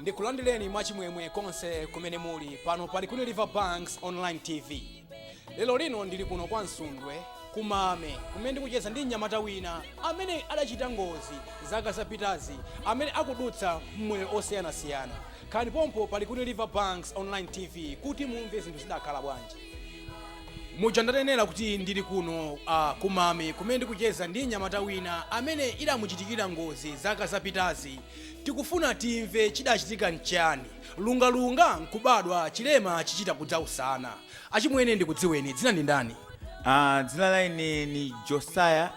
ndikulandireni mwachimwemwe konse kumene muli pano pa likuni river banks online tv lero lino ndili kuno kwa msundwe kumame kumene ndikucheza ndi mnyamata wina amene adachita ngozi zaka zapitazi amene akudutsa mmoyo osiyanasiyana khalani pompo pa likuni river banks online tv kuti mumve zinthu zidakhala bwanji muja ndanenera kuti ndili kuno uh, kumame kumene ndikucheza ndi nyamata wina amene idamuchitikira ngozi zaka zapitazi tikufuna timve chidachitika nchani lungalunga nkubadwa chilema chichita kudza usana achimwene ndikudziweni dzina ndi ndani Ah, dzina laine ni josiah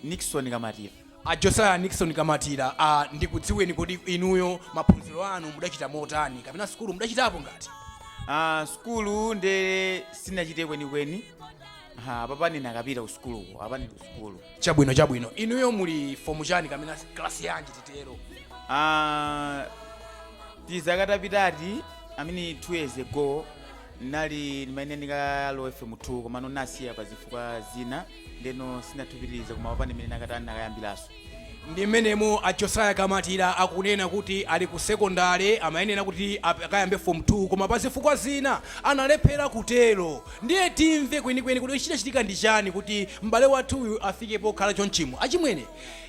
nixon kamatira A Josiah Nickson Kamatira, a ndikudziweni kodi inuyo maphunziro anu mudachita motani kapena sukulu mudachitapo ngati? Ah, sukulu nde sinachite kwenikweni apapa ndinakapita ku sukuluko apa ndili ku sukulu Chabwino chabwino. Inuyo muli fomu chani kapena klasi yanji titero? Ah, tizaka tapitati ameneti two years ago nali ndimene ndikalowe form 2 komano nasiya pa zifukwa zina ndeno sinatupitilize koma apapa ndi mene nakatani nakayambilaso ndi mmenemo a josiah kamatira akunena kuti ali ku sekondale amayenera kuti ap- akayambe form 2 koma pa zifukwa zina analephera kutero ndiye timve kwenikweni kuti chidachitika ndi chani kuti m'bale wathuyu afike pokhala chonchimo achimwene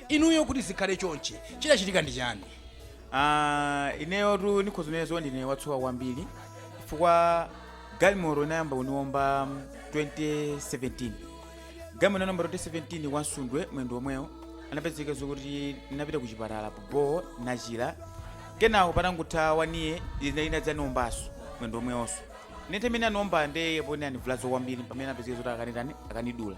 inuyo kuti zikhale chonchi chidachitika ndi chani Ah, ineyotu nikhoza unena zoti ndine watsoka kwambiri chifukwa galimoro inayamba kuniomba mm, 2017 galimoro inaniomba 2017 kwa nsundwe mwendo omwewo anapezeka zokuti ndinapita ku chipatala bo nachira kenako patangotha one year inadzaniombaso mwendo omwewonso nthawi imene aniomba nde pomwe anivulaza kwambiri pamene anapezeka zoti akanitani akanidula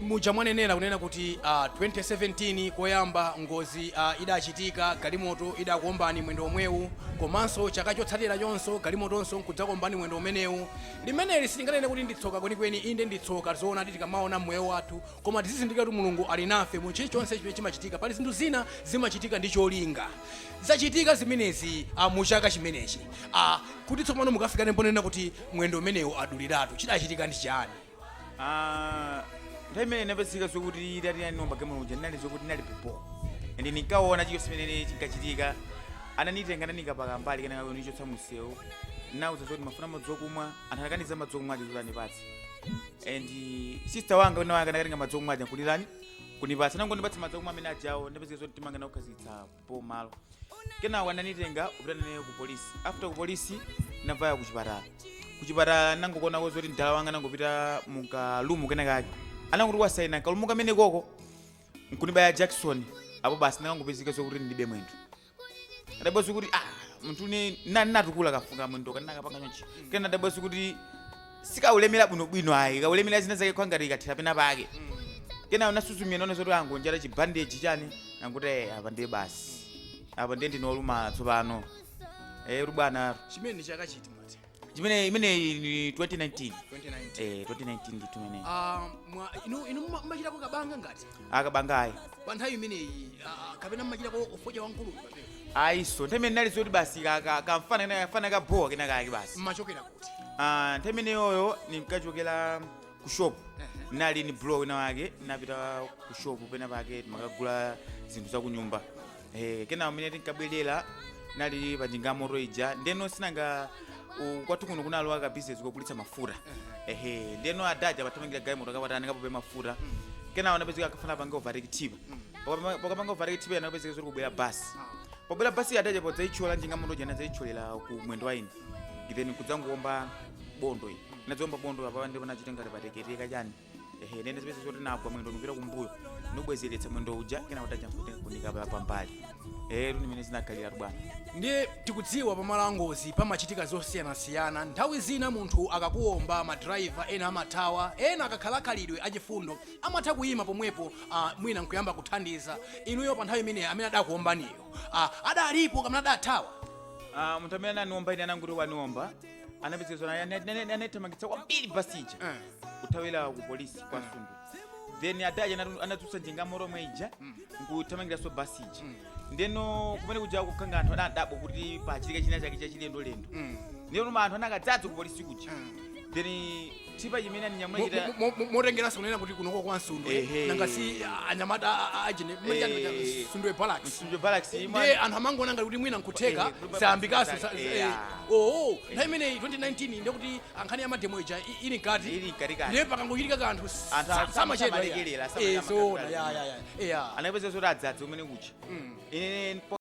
Muja mwanenera kunena kuti uh, ah, 2017 koyamba ngozi uh, idachitika galimoto idakuombani mwendo omwewu komanso chaka chotsatirachonso galimotonso nkudzakuombani mwendo umenewu limeneli sitinganene kuti nditsoka kwenikweni inde nditsoka zoona tikamaona mmoyo wathu koma tizizindikira kuti mulungu ali nafe mu chilichonse chimene chimachitika pali zinthu zina zimachitika ndi cholinga zachitika zimenezi uh, mu chaka chimenechi uh, kuti tsopano mukafikano ponena kuti mwendo umenewu aduliratu chidachitika ndi chani Ah, nthawi imene inapezeka zokuti idati yaniomba galimoto ija ndinali zokuti ndinali bobo and ndinkaona chichonse chimene chinkachitika ananitenga nanikapo kumbali kenako anichotsa mumsewu nauza zoti mmafuna madzi okumwa anthu anakaniza madzi okumwa aja zoti anipatse and sister wanga wina wanga anakatenga madzi okumwa aja kuditani kunipatsa atangondipatsa madzi okumwa amene ajawo ndapezeka zoti timanga nakukhazikitsa apo po malo kenako ananitenga kupita naneyo ku polisi after ku polisi navaya ku chipatala ku chipatala nangoonako zoti mdala wanga nangopita mukarumu kenakake ananguti wasaina karumu kamene koko nkunibaya jackson apo basi ndikangopezeka zokuti ndibe mwendo ndidabwa kuti ah munthu une nani natukula kafungo mwendo kanakapanga chonchi kena ndidabwa kuti sikaulemera bwinobwino ayi kaulemera zina zake ngati ikathera pena pake kena nasuzumira naona zoti angonjata chibandeji chani nanguti "Eh, apa ndiye basi apa ndiye ndine olumala tsopano eh bwana chimene ndi chaka chiti mwati chimene imeneyi ni 2019 2019 eh 2019 ndithu mene Ah, mwa- inu inu muma- mumachitako kabaza ngati akabazayi pa nthawi imeneyi ah, kapena mumachitako ufoja wankulu ayinso nthawi imene nali zoti basi ka- ka- kamfana kena- kamfana kabhowa kena kake basi mmachokerako Ah, nthawi imeneyoyo ndinkachokera ku shop nali ni bro wina wake napita ku shop pena pake timakagula zinthu za kunyumba eh, kena mmene tinkabwerera nali pa njinga moto ija ndeno si nanga u- kwathu kuno kunalowa ka business kogulitsa mafuta ehe ndeno adaja pathamangira galimoto kapatani kapope mafuta kena anapezeka akufuna apange overtake tipa pakapanga overtake tipa anapezeka zoti kubwera basi pobwera basi adaja podzaitchola njinga moto ija anazaitcholera ku mwendo wa ine then kudzangoomba bondo iyi nadziomba bondo apa ndipo pachita ngati patheketeka chani ehe nkudzipeza zoti nagwa mwendo ndikupita kumbuyo nobwezeretsa mwendo uja kena kutacha nkuti kunika pa- pambali ehe ndi mmene zinakhalira bwana ndiye tikudziwa pamalo angozi pamachitika zosiyanasiyana nthawi zina munthu akakuomba madrayiva ena amathawa ena akakhala khalidwe achifundo amatha kuyima pomwepo uh, mwina nkuyamba kuthandiza inuyo pa nthawi imeneyi amene adakuombaniyo uh, adalipo kapena adathawa Ah, munthu amene ananiomba ine anangoti waniomba anapezeka naye anaithamangitsa kwambiri basi ija Eh. kuthawira ku polisi kwa msundwe then adaja anatu- anadzutsa njinga moto yomwe ija nkuthamangiranso basi ija ndeno kumene kuja kukhala ngati anthu anadabwa kuti pachitika china chake chachilendolendo ndeno anthu anakadzadza ku polisi kuja then chipa chimene aninyamula chita potengeranso kunena kuti kunoko kwa msundwe Ehe. nanga si ah, anyamata a- a- ajene Eh. msundwe barracks msundwe barracks ndiye imwe anthu amangoona ngati kuti mwina nkutheka Eh, kuti sayambikaso sa- eh, eh, ah. oo nthawi imeneyi 2019 ndiye kuti nkhani ya mademo ija i- ili mkati Ili mkatikati. ndiye pakangochitika kanthu Anthu sa- sam- samachedwa samalekerera, iya. samalekerera Eh, zoona, makatulali. ya, ya, ya. Iya. anapeza zoti adzadza kumene kuja ine